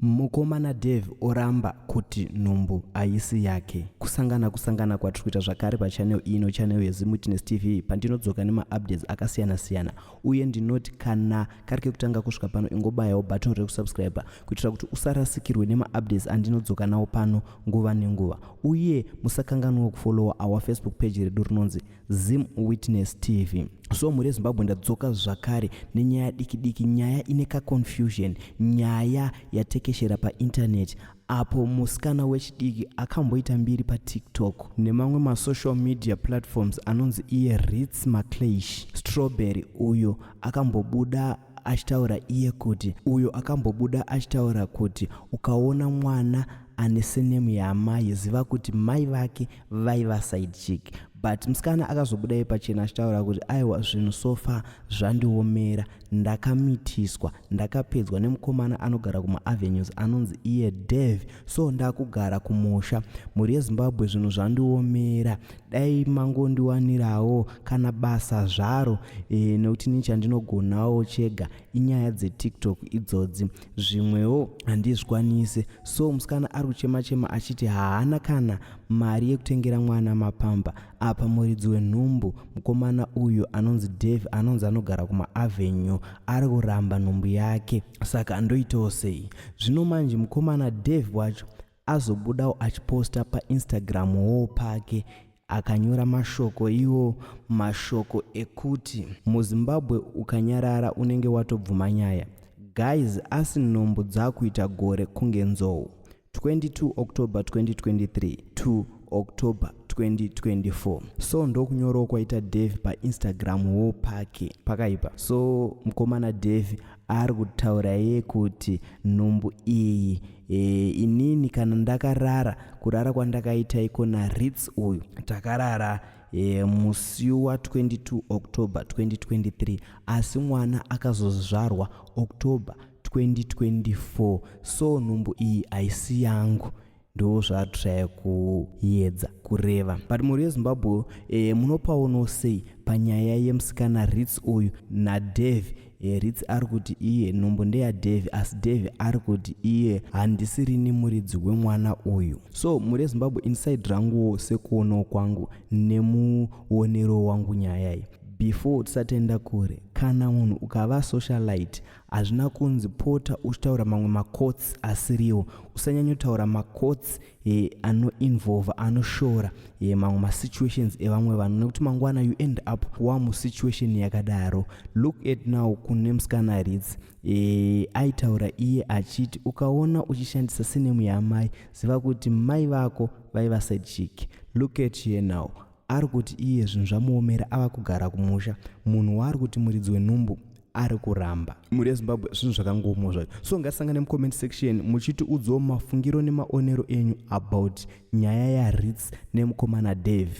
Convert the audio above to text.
Mukomana Dave oramba kuti nhumbu haisi yake. Kusangana kusangana kwatiri kuita zvakare pachannel ino channel yeZimWitness TV pandinodzoka nemaupdates akasiyana siyana uye ndinoti kana kari kekutanga kusvika pano ingobayawo button rekusubscriber kuitira kuti usarasikirwe nemaupdates andinodzoka nawo pano nguva nenguva uye musakanganwawo kufollowa our Facebook page redu rinonzi Zim Witness TV. So mhuri yeZimbabwe ndadzoka zvakare nenyaya diki diki, nyaya ine ka confusion, nyaya yatekeshera pa internet apo musikana wechidiki akamboita mbiri pa TikTok nemamwe ma social media platforms anonzi iye Ritz Macleish Strawberry uyo akambobuda achitaura iye kuti uyo akambobuda achitaura kuti ukaona mwana ane senemu yaamai ziva kuti mai vake vaiva side chick but musikana akazobuda iye pachena achitaura kuti aiwa zvinhu so far zvandiomera ndakamitiswa ndakapedzwa nemukomana anogara kumaavenues anonzi iye dev so ndakugara kumusha mhuri yezimbabwe zvinhu zvandiomera dai mangondiwanirawo kana basa zvaro e, nekuti ni chandinogonawo chega inyaya dzetiktok idzodzi zvimwewo handizvikwanise so musikana ari kuchema chema achiti haana kana mari yekutengera mwana mapamba apa muridzi wenhumbu mukomana uyu anonzi dave anonzi anogara kumaavenue ari kuramba nhumbu yake saka andoitawo sei zvino manje mukomana dave wacho azobudawo achiposta painstagram wo pake akanyora mashoko iwo mashoko ekuti muzimbabwe ukanyarara unenge watobvuma nyaya guys asi nhumbu dzakuita gore kunge nzou 22 october 2023 to october 2024 so ndokunyorawo kwaita devi painstagram wo pake pakaipa so mkomana devi ari kutaura iye kuti nhumbu iyi e, inini kana ndakarara kurara kwandakaita iko naritz uyu takarara e, musi wa 22 october 2023 asi mwana akazozvarwa october 2024 so nhumbu iyi haisi yangu ndoo zvaatshaya kuyedza kureva but mhuri yezimbabwe e, munopaonawo sei panyaya yemusikana rits uyu nadave e, eh, rits ari kuti iye nhumbu ndeyadave asi dave ari kuti iye handisirini muridzi wemwana uyu so mhuri yezimbabwe inside ranguwo sekuonawo kwangu nemuonero wangu nyaya iyi before tisatenda kure kana munhu ukava socialite Hazvina kunzi pota uchitaura mamwe macourts asiriwo. Usanyanyotaura macourts eh, anoinvolva anoshora eh, mamwe masituations evamwe vanhu nekuti mangwana you end up wamusituation yakadaro. Look at now kune musikana aridzi eh, aitaura iye achiti ukaona uchishandisa sinemu yaamai ziva kuti mai vako vaiva side chick. Look at here now ari kuti iye zvinhu zvamuomera ava kugara kumusha munhu waari kuti muridzi wenhumbu ari kuramba mhuri yezimbabwe zvinhu zvakangoomwa zvacho so ngasangane mucomment section muchitiudzawo mafungiro nemaonero enyu about nyaya yarits nemukomana dave